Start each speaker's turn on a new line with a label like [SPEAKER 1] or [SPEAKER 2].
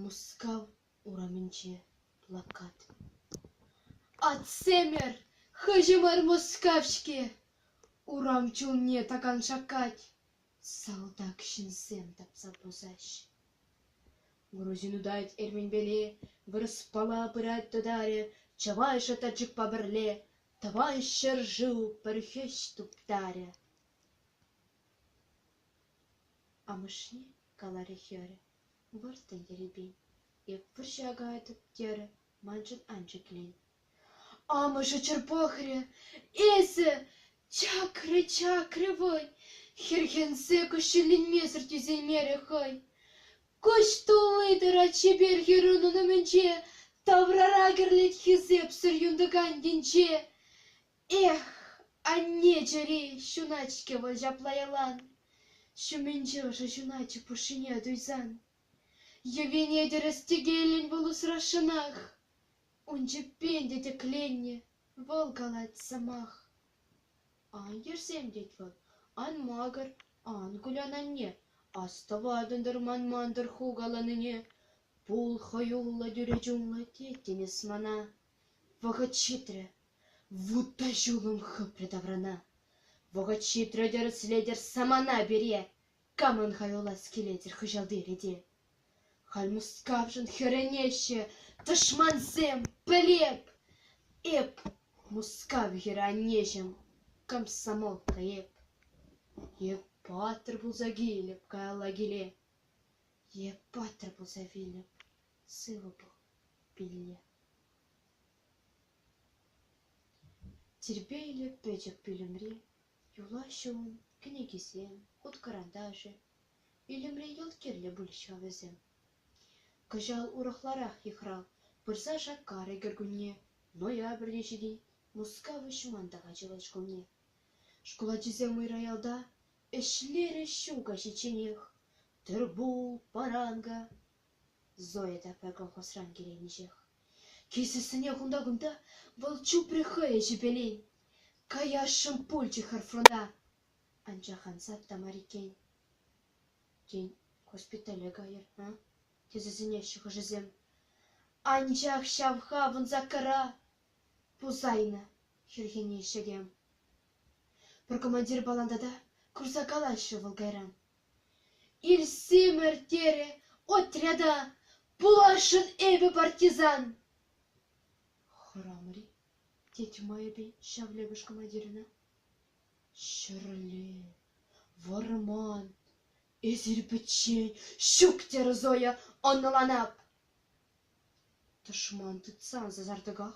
[SPEAKER 1] Мускав урамӗнче плакат. Атьсемӗр, хыҫӑмӑр Мускав-ҫке! Урам чулне такан шаккать. Салтак ҫынсем тапса пусаҫ. Грузин утать эрменпеле, вырӑспала пырать тӑтарӗ, чӑвайшӗ тачӑкпа пӗрле, тӑван ҫӗр-шыв пӗр хӗҫ туптарӗ. Амӑшне каларӗ хӗрӗ, выртӑн ерипен, эп вӑрҫа кая тыткерӗ, маншӑн ан ҫӗклен, Амӑшӗ чӗр пӑхрӗ, эсӗ чакрӗ-чакрӗ вӑй, хӗрхенсе кӗҫҫӗленмесӗр тӳсеймерӗ хӑй. Куҫ тулли-тӑра чипер хӗррунӑн умӗнче таврара кӗрлет хисепсӗр юнтӑкан енче. Эх, анне чӗри ҫунать-ҫке вӑл ҫапла ялан. Ҫумӗнче ӑшӑ ҫуначӗ пушшине туйсан. Йӑвине тӗрӗс тӗкеллӗн вӑл усрасшӑнах. Ун чӗппен те тӗкленнӗ вӑл калать сӑмах. Ан йӗрсем, тет вӑл, ан макӑр, ан кулян, анне, астӑватӑн-тӑр ман мантӑр хукаланине, пул хӑюллӑ тӳре чунлӑ, тет тинӗс мана. Вӑхӑт ҫитрӗ, вут та ҫулӑм хыпрӗ таврана. Вӑхӑт ҫитрӗ, тӗрӗслетӗр самана пире, камӑн хаюлас килетӗр хыҫалти рете. Халь Мускавшӑн хӗрӗнеҫҫӗ тӑшмансем, пӗлеп эп Мускав хӗранеҫӗм комсомолка эп. Эп паттӑр пулса килӗп каялла киле, Эп паттӑр пулса вилӗп сывӑ пул пилле. Тирпейлӗ пӗчӗк пӳлӗмри Юлаҫҫӗ ун кӗнекисем, хут-кӑранташӗ. Вилӗмре йӑлт кирлӗ пулӗҫ-ха вӗсем. Кӑҫал урӑхларах йыхрав пырса шаккарӗ кӗркунне. Ноябрьте ҫитет Мускав Ҫӑмантака чылай шкулне. Шкул ачисем уйра-ялта ӗҫлерӗҫ ҫул каҫичченех. Тырпул, паранга, Зоя та пӗр колхозран киленӗҫех. Килсессӗне кунта-кунта вӑл чупрӗ хӑйӗн ҫӗпелин. Каясшӑн пулчӗ хӗр фронта. Анчах ансат та мар иккен. Тен, госпитале кайӑр, а? тесе сӗнеҫҫӗ хӑшӗсем. Анчах ҫав хавӑн Закара пусайнӑ, хӗрхенеҫҫӗ те. Пӗр командир баландата курса калаҫрӗ вӑл кайран. Илсимӗр, терӗ отряда, пуласшӑн эпӗ партизан. — Хӑрамӑр-и? — тет майӗпен ҫав лӗпӗш командирӗнӗ. — Ҫӗрле, вӑрман, эсир пӗччен ҫук, — терӗ Зоя, ӑнланап. — Тӑшман тытсан сасартӑках.